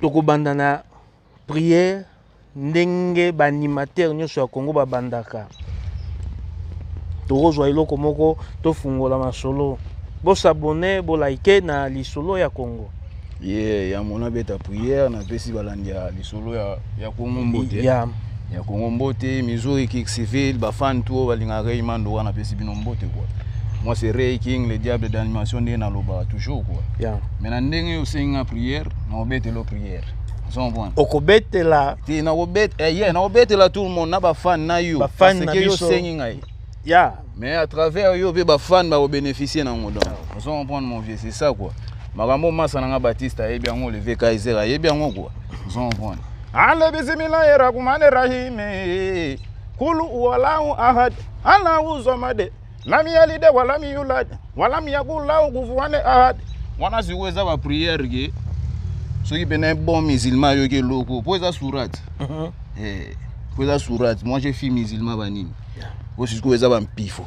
tokobanda na Prière ndenge ba animateur nyoso ya Congo ba bandaka. Tokozwa eloko moko tofungola masolo. Bo s'abonner, bo liker na lisolo ya Congo. Yeah, ya mona beta prière na pesi balandi ya lisolo ya ya Congo mbote. Yeah. Ya Congo mbote, Missouri Kick Civil, ba fan tout balinga Rayman Doga na pesi bino mbote quoi. Moi c'est Ray King, le diable d'animation ndenge nalobaka toujours quoi. Yeah. Mais na ndenge osengi nga prière, na obetelo prière. okobetela te nakobetela eh, yeah, nakobetela tout le monde na bafane na yo parce que yo osengi ngai yeah. mais à travers yo mpe bafane bakobénéficie na yango donc ah. ozo comprendre mon vieux c'est ça quoi makambo masa na ngai batiste ayebi yango olivier kaiser ayebi yango quoi ozo comprendre ale bisimilahi rahmani rahimi kulu walahu ahad alahu zomade Lami ya lide wa lami yulad wa lami ya gulaw guvuane ahad. Wana sikoyo eza ba prière ke soki pena un bon musulman ayoki eloko mpo eza sourate mhm. eh, mpo eza sourate moi je fille musulman banini oyo sikoyo eza bampifo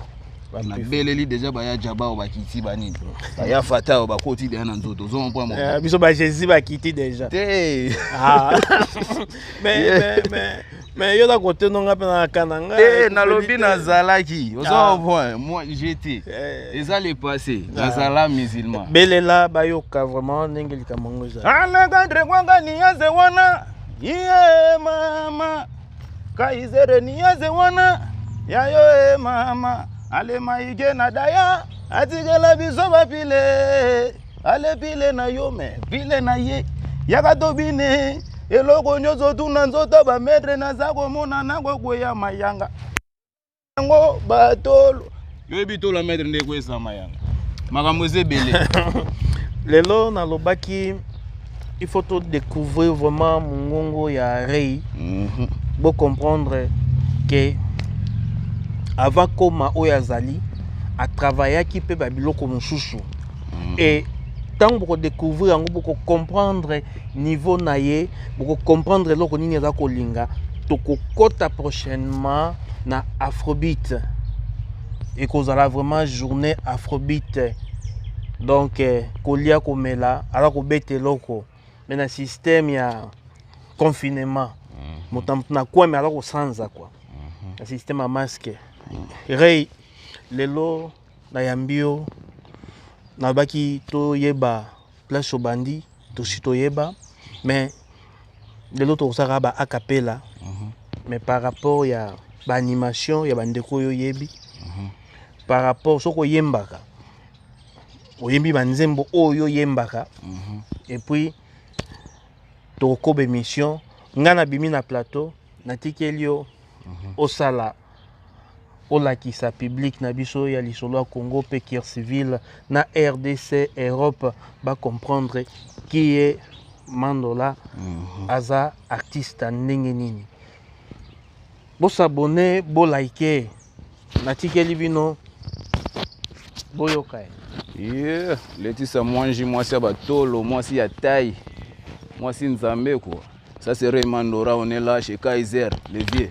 nabeleli deja baya jaba oyo bakiti banini baya fata oyo bakoti deja na nzoto ozomopwa eh, biso ba jésus bakiti deja te ah. mais yo na kote no nga mpe na kana nga eh, eh, nalobi nazalaki oza ah. point moi jete eh. eza le passé ah. nazala musulman belela bayoka vraiment ndenge likambo yango ezali alexandre kwanga niaze wana iye mama kaizere niaze wana yayo e mama alemaike na daya atikela biso bapile ale bile na yo me bile na ye yaka tobine eloko nyonso tuna nzoto bametre naza komona nakokweya mayanga yango batolo yoyebi tola metre nde ekweyisa mayanga makambo eza ebele lelo nalobaki il faut to découvrir vraiment mongongo ya rei mm -hmm. bo comprendre que avant koma oyo azali atravaillaki mpe babiloko mosusu mm. et ntango bokodecouvrir yango bokocomprendre niveau na ye bokocomprendre eloko nini aza kolinga tokokɔta prochainement na afrobit ekozala vraiment journée afrobit donc eh, kolia komela aza kobeta eloko me na système ya confinement mhm. moto na moto na kwame aza kosanza kua mhm. na système ya masque mhm. rei lelo Na yambi yo na baki to yeba place au bandi to si to yeba mais de l'autre au saka ba acapella mm -hmm. mais par rapport ya ba animation ya ba ndeko yo yebi mm -hmm. par rapport soko yembaka oyembi ba nzembo oyo yembaka mm -hmm. et puis tokokoba émission ngai nabimi na plateau natikeli yo mm -hmm. osala olakisa public na biso ya lisolo ya congo mpe kir civil na rdc europe bacomprendre kiye mandola mhm. aza artiste ndenge nini bosabone bolike natikeli bino boyoka ye yeah. letisa mwanji mwasi ya batolo mwasi ya tai mwasi nzambe kua ça serait mandora on est là chez kaiser le vieux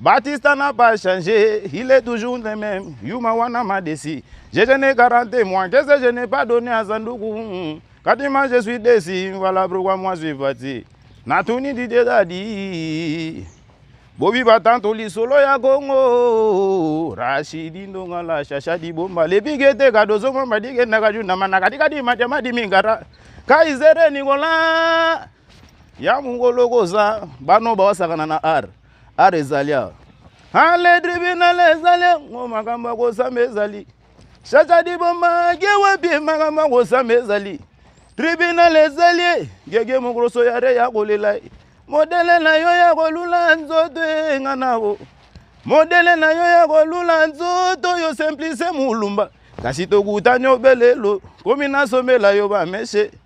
Batista n'a pas changé, il est toujours le même. Yuma wana m'a déçu. Je, je n'ai garanti moi, qu'est-ce que je n'ai pas donné à Zandougou Katima, je suis déçu, voilà pourquoi moi je suis parti. Natuni Didier Dadi. Bobi Batanto lisolo ya Congo. Rashidi ndonga la shasha di bomba. Lebige te kadozo mamba dige naga junda manaka dikadi majama di mingara. Kaizere Nicolas. ya mongolo koza bano bawasakana na ar ar ezali awa ale tribunal ezali yango makambo ya kosamba ezali shaka dibomba ge wapi makambo ya kosamba ezali tribunal ezali gege mokoloso ya re ya kolela modele na yo ya kolula nzoto enga nao modele na yo ya kolula nzoto oyo simplise molumba kasi tokutani obelelo komi nasombela yo bameshe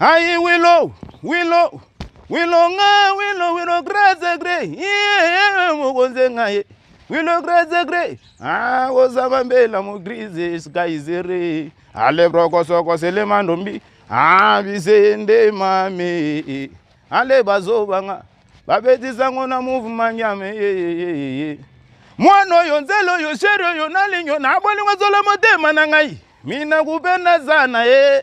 Aïe Willow, Willow, Willow nga, Willow, Willow grace grey, yeah, mokonze nga ye. Willow grace grey, ah, ozaba mbela mo grise sky zere. Ale broko soko sele mandombi, ah, bise nde mame. Ale bazo banga, babetisa ngo na mouvement nyame, yeah, yeah, yeah, yeah. Mwana oyo nzela oyo sheri oyo nalingi yo nabolingo zola motema na ngai mina kupenda sana ye eh.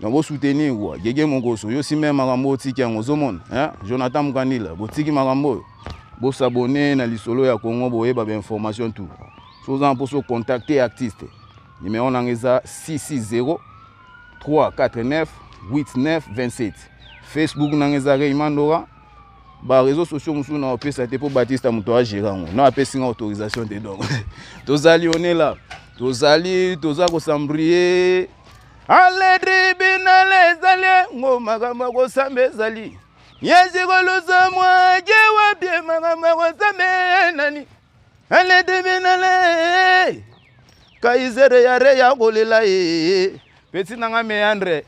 Nako soutenir quoi. Gege Mokoso, yo si meme makambo otiki yango ozomona. Hein? Jonathan Mukandila, botiki makambo oyo. Bo s'abonner na lisolo ya Congo boyeba ba information tout. Si oza na poso contacter artiste. Numéro nanga eza 660 349 8927. Facebook nanga eza Raymond Dora. Ba réseaux sociaux mosusu na opesa te po Batista moto agera yango. Na apesi nga autorisation te donc. Tozali on est là. Tozali toza ko s'embrouiller ale tribinal ezali ngo makambo ya kosamba ezali yesikolusa mwake wapi makambo ya kosamba nani ale tribinal kaisere ya re ya kolela ye peti nanga meandre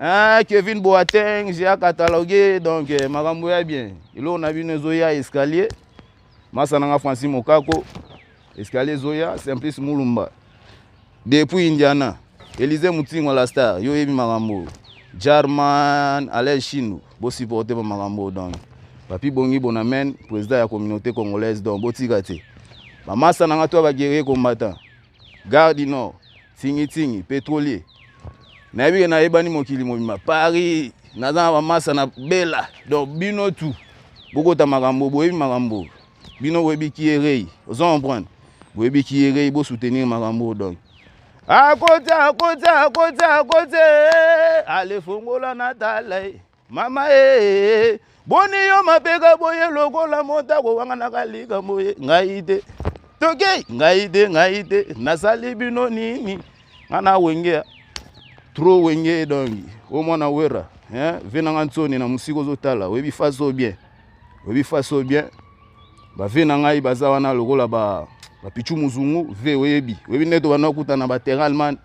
Ah, Kevin Boateng, j'ai catalogué, donc euh, Makambo ya bien. Il a une zoya escalier. masa na nga francis mokako escalier ezoya simplice mulumba depuis indiana elise mutingo la star yo oyebi makambo oyo jarman alain chino bosupporte bamakambo oyo donc papi bongi bonamen président ya communauté congolaise donc botika te bamasa na nga to ya baguerrier combattant Gare du Nord, Tsingi Tsingi, petrolier. Nayebi ke nayebani mokili mobima. Paris, naza na bamasa na Bella. Donc bino tu bokota makambo, boyebi makambo. Bino boyebi kierei. Ozo comprendre? Boyebi kierei, bo soutenir makambo donc. Akoti, akoti, akoti, akoti. Allez fongola na tala. Mama ee, boni yo mapeka boye lokola motako wanganaka likambo ye ngai te tokei ngai te ngai te nasali bino nini nga na wengea tro wenge dongi o mwana wera eh, ve na nga nsoni na mosika ozotala oyebi fasi o bien oyebi fasi o bien bave na ngai baza wana lokola bapichu ba muzungu ve oyebi oyebi nde tobanda okutana bateralman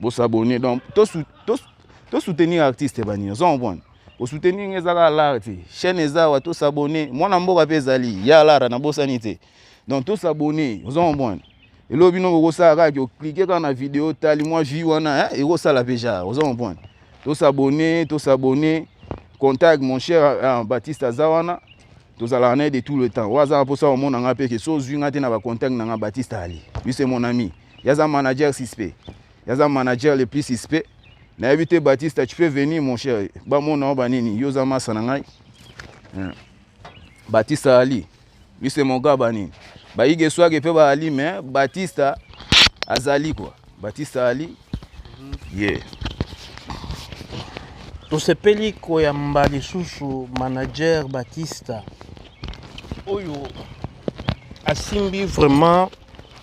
Bo s'abonner donc to to to soutenir artiste bani ozo comprendre. Ko soutenir ngai ezaka l'art te. Chaîne ezawa to s'abonner. Mwana mboka pe ezali ya l'art na bosani te. Donc to s'abonner ozo comprendre. Elo bino ko kosala kaka ki o cliquer kaka na vidéo tali mwa vue wana hein eko sala pe ja ozo comprendre. To s'abonner to s'abonner contact mon cher uh, Baptiste Azawana tozalaka na ye de tout le temps oyo azalaka mposa komona ngai mpe ke so ozwi ngai te na bacontact na ngai batiste ali lui c'est mon ami Yaza manager suspect. Yaza manager le plus suspect. Na te Batista, tu peux venir mon cher. Ba mona ba nini? Yoza masa na ngai. Hmm. Batista Ali. Lui c'est mon gars ba nini? Ba yige swage pe ba Ali mais Batista azali quoi. Batista Ali. Mhm. Yeah. tosepeli koyamba lisusu manager batista oyo asimbi vraiment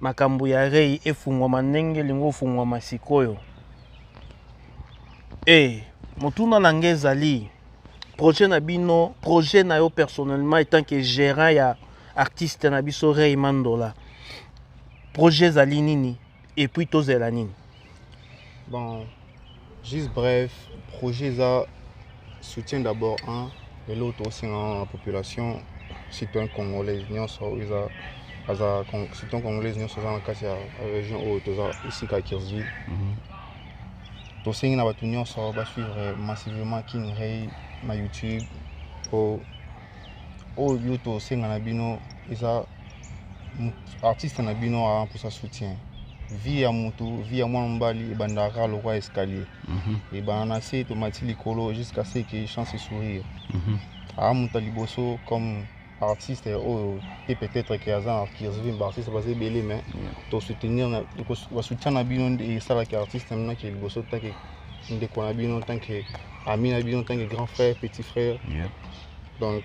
makambo ya rei efungwama ndenge elingi ofungwama sikoyo e motuna na ngai ezali projet na bino projet na yo personnellement etant que gérant ya artiste na biso rei mandola projet ezali nini epuis tozela nini bon Juste bref, projet eza soutien d'abord un eloko tokosenga na population citoyen congolaise nyonso oyo eza aza citoyen congolaise nyonso aza na kati ya région oyo toza esika ya kirville mhm. tosengi na bato nyonso basuivre massivement king rey na youtube mpo oyo tosenga na bino eza artiste na bino aa mposa soutien vie ya motu vie ya mwana mobali ebandaka kaka lokwa escalier mhm. ebanda na se tomati likolo jusqu'à ce que chance sourire mhm. aa moto ya liboso comme artiste oyo te peut-être ke aza na kirzvi baartiste baza ebele mais tosoutenir basoutien na bino nde esalaki artiste mna ke liboso tanke ndeko na bino tanke ami na bino tanke grand frère petit frère donc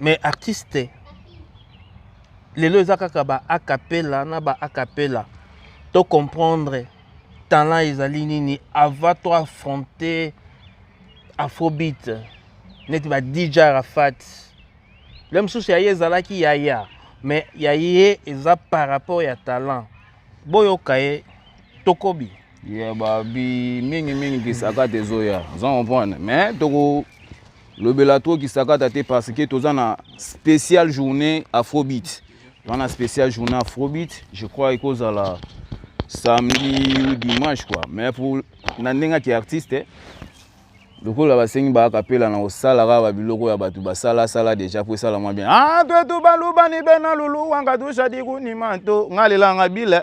mais artiste lelo eza kaka ba acapella na ba acapella to comprendre talent ezali nini avant to affronter afrobeat neti ba dj arafat le mosusu ya ye ezalaki yaya mais ya ye eza par rapport ya talent boyoka ye tokobi ya babi mingi mingi kisakata ezoya oza comprendre mais toko lobela to kisakata te parce que toza na spécial journée afrobeat toza na spécial journée afrobeat je crois ekozala samedi ou dimanche quoi mais pour na ndenge ake artiste eh, lokola basengi baakapela na kosala kaka babiloko ya bato basalasala deja mpo esala mwa bien ah, twetu balubani bena lulu wanga tushadikunima to nga lelanga bile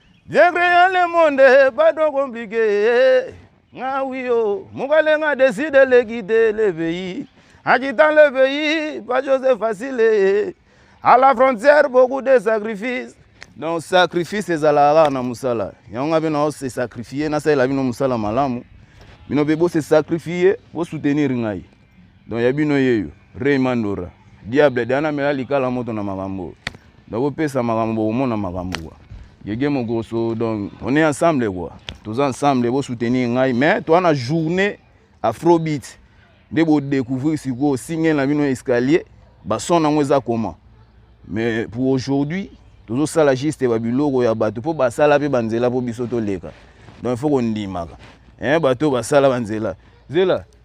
Bien créant le monde, pas trop compliqué. Nga oui oh, mukale nga décide de quitter le pays. En quittant le pays, pas chose facile. À la frontière, beaucoup de sacrifices. Donc sacrifice ezalaka na musala. Yango nga bino se sacrifier na sala bino musala malamu. Bino be bo se sacrifier, bo soutenir ngai. Donc ya bino yeyo Ray Mandora diable de ana mela likala moto na makambo dako pesa makambo bokomona makambo kwa Gege Mokoso donc on est ensemble quoi toza ensemble bo soutenir ngai mais toi na journée afrobeat nde bo découvrir sikoyo single na bino escalier ba son nango eza comment mais pour aujourd'hui tozo sala juste ba biloko ya bato po basala pe ba nzela po biso toleka donc il faut kondimaka eh bato basala ba nzela zela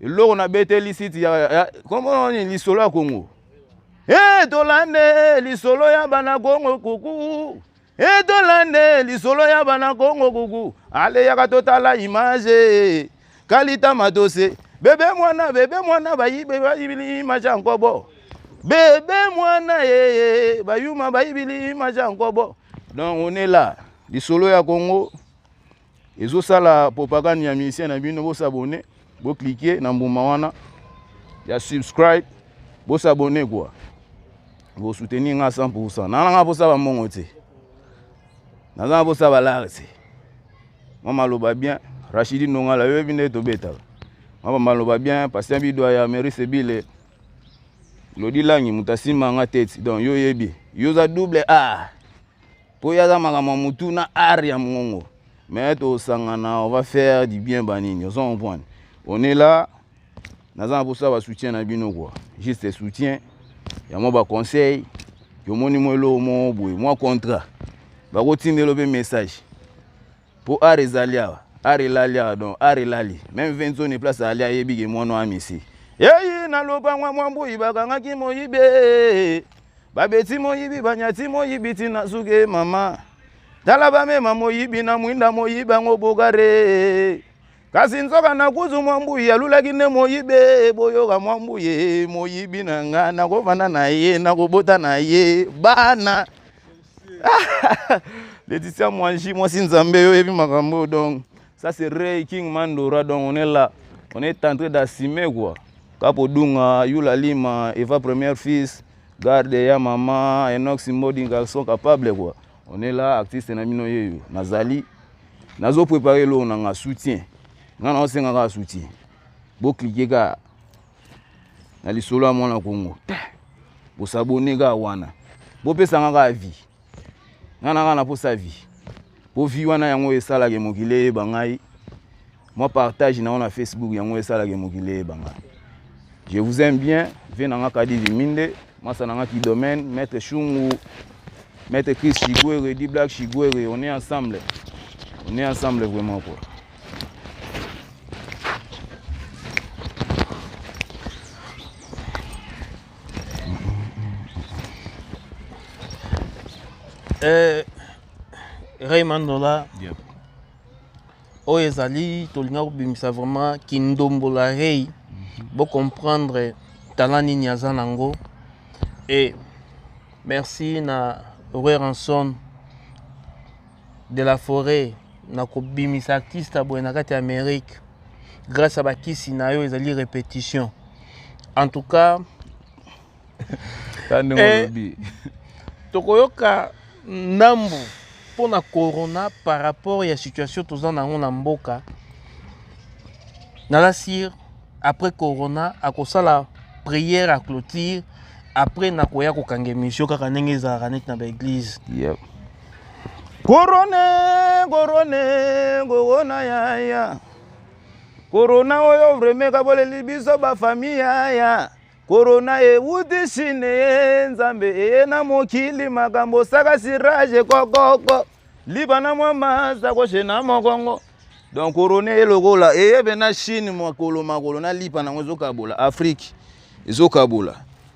eloko na beteli site ya, ya kombo nini lisolo ya Kongo e tolande lisolo ya bana Kongo kuku e tolande lisolo ya bana Kongo kuku ale yaka totala image kalita matose bebe mwana bebe mwana bayibe bayibili image ya nkobo bebe mwana yeye bayuma bayibili image ya nkobo donc on est là lisolo ya Kongo ezo sala propagande ya musicien na bino bo s'abonner bo cliquer na mbuma wana ya subscribe bo s'abonner quoi bo soutenir nga 100% na nga posa ba mongo te na nga posa ba lare te mwa maloba bien Rachidi Nongala yo yebi nde tobetaka mwa maloba bien patient bidwa ya Mary Sebile lodi langi moto asimba nga tete donc yo yebi yo oza double a ah. po ye aza makambo ya motu na art ya mongongo mais tosangana on va faire du bien banini ozo comprendre on est là naza na mposa basoutien na bino kua juste soutien ya mwa baconseil yomoni mwa eloko moko boye mwa contrat bakotindelo mpe message Po art ezali awa, art elali awa donc art elali. Meme Venzone place ali ayebi ke mwana wa Messi. Yeyi na lopango mwa mbuyi bakangaki moyibe. Babeti moyibi banyati moyibi tina suke mama. Tala bamema moyibi na mwinda moyibi yango bogare. Kasi nzoka na kuzu mwa mbuyi alulaki nde moyibe boyoka mwa mbuye moyibi na nga nakofanda na ye nakobota na ye bana. Laetitia Mwanji, moi si Nzambe, yo yebi makambo donc ça c'est Ray King Mandora donc on est là, on est en train d'assumer quoi. Kapo Dunga, Yula Lima, Eva Première Fils, Garde ya Mama, Enox Modi, garçon capable quoi. On est là, artiste na mino yeyo, nazali, nazo préparer l'eau na nga soutien. Nga na osengaka soutien. Bo cliquer ka na lisolo ya mwana kongo bosabone kaka wana bopesanga kaka vi nga na nga na posa vi mpo vi wana yango esalaka mokili eyeba ngai mwa partage na yango na facebook yango esalaka mokili eyeba ngai je vous aime bien vie na nga kadi viminde mwasa na nga ki domaine maître shungu maître chris chiguere di black chiguere on est ensemble on est ensemble vraiment quoi Eh, Raymond Dola yep. oyo ezali tolinga kobimisa vraiment kindombola rei mm -hmm. bocomprendre tala nini aza nango e merci na roy ranson de la foret na kobimisa artiste ya boye na kati ya amerique grâce ya bakisi na yo ezali répétition en tout cas ta ndenge eh, olobi tokoyoka ndambu mpo na corona par rapport ya situation toza na yango na mboka naza sire après corona akosala prière à clôture après nakoya kokanga émission kaka ndenge ezalaka neti na baeglise yep. korone korone kokona yaya korona oyo vreme kaboleli biso bafamille yaya korona ewuti shine ye nzambe eye na mokili makambo saka sirage kokoko libana mwa maza koshe na mokongo donc korona ye lokola eyebe na chine makolo makolo na lipa nango ezokabola afrike ezokabola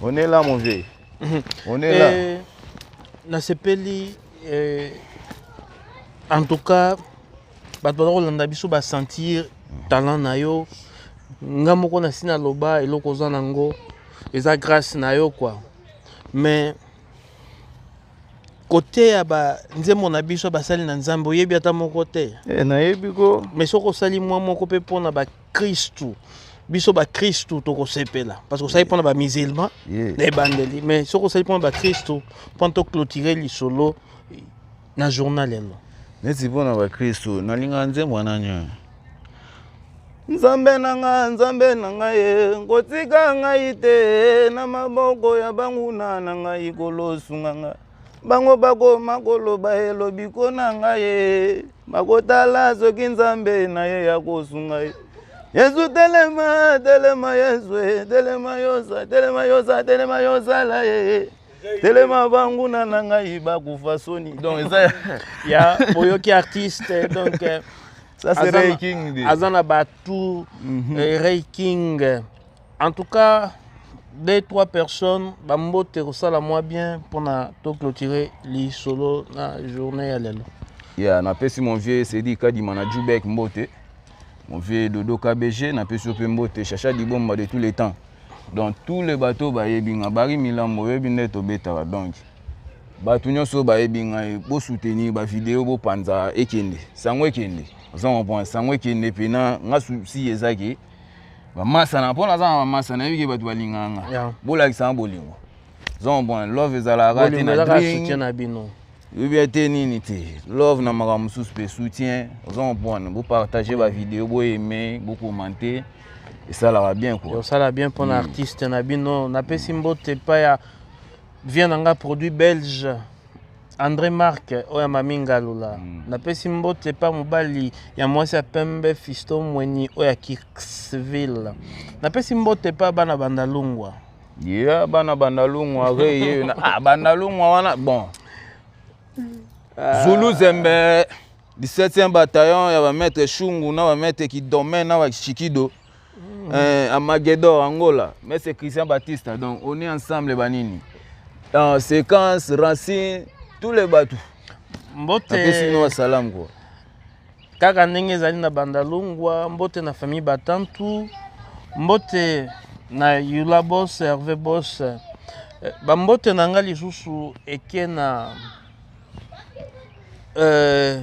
On est là, mon vieux. Mhm. On est là. Eh, nasepeli eh, en tout cas bato baza kolanda biso basentir talent na yo nga moko nasi naloba eloko oza nango eza grâce na yo kua mais koteya banzembo na biso basali na nzambe oyebi ata moko te eh, nayebi ko mais soki osali mwa moko mpe mpona bakristu biso bakristu tokosepela parce que osali mpona bamisilma na ebandeli mais soki osali mpona bakristu mpona toclotire lisolo na journal yango neti mpona bakristu nalingaka nzembo wana nyoyo nzambe na nga nzambe na ngai ye kotika ngai te na maboko ya banguna na ngai kolosunga ngai bango bakoma koloba ye lobiko na ngai ye bakotala soki nzambe na ye ya kosunga ye yesu telema telema yesu telema yosa telema yosa telema yosala ye telema banguna na ngai bakufa soni donc eza ya boyoki artiste donc euh, aza na batu mhm. euh, ray king En tout cas, deux trois personnes bambote kosala mwa bien mpona toclotire lisolo na journée ya lelo ya yeah, napesi mon vieux sedi kadima na jubek mbote mon vieux dodo kbg napesi yo mpe mbote chacha dibomba de tous les temps donc tous les bateau bayebi nga bari milambo oyebi nde tobetaka donc bato nyonso bayebi ngai bosoutenir bavideo bopanza ekende sango ekende oza comprendre sango ekende mpena nga susi ezaki bamasana mpo naza na bamasa nayebi ke bato balinganga yeah. bolakisanga bolingo zon bon love ezalaka te na drink na bino ebia te nini te love na makambo mosusu mpe soutien oza comprendre bopartage bavideo boyeme bokomante esalaka bien kua osala bien mpo na mm. artiste na bino napesi mbote epai ya vie na ngai produit belge Andre Marc oyo ya Mami Ngalula. Mm. Napesi mbote pa mobali ya mwasi ya pembe Fisto Mweni oyo ya Kirksville. Napesi mbote pa bana bandalungwa. Yeah, bana bandalungwa re ye na ah bandalungwa wana bon. Zulu Zembe 17e bataillon ya ba maître Shungu na ba maître Kidomè na ba Shikido. Mm. Eh, Amagedor, Angola. Mais c'est Christian Batista. Donc, on est ensemble, Banini. Euh, séquence, racine, tous les bateaux. Mbote. Apesi no salam quoi. Kaka ndenge ezali na Bandalungwa, mbote na famille Batantu, mbote na Yula Boss, Hervé Boss. Eh, ba mbote na nga lisusu eke na euh,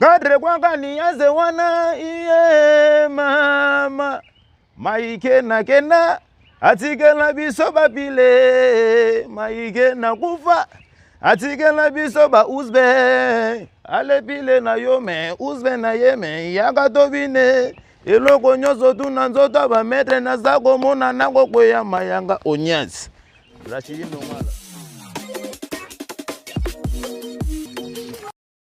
Kadre kwanga niaze wana iye mama maike na kenda atikela biso bapile maike na kufa atikela biso ba usbe alepile na yo me usbe na ye me yaka tobine eloko nyonso tuna nzoto ya bametre naza komona nango kweya mayanga onyasi rashidi nongala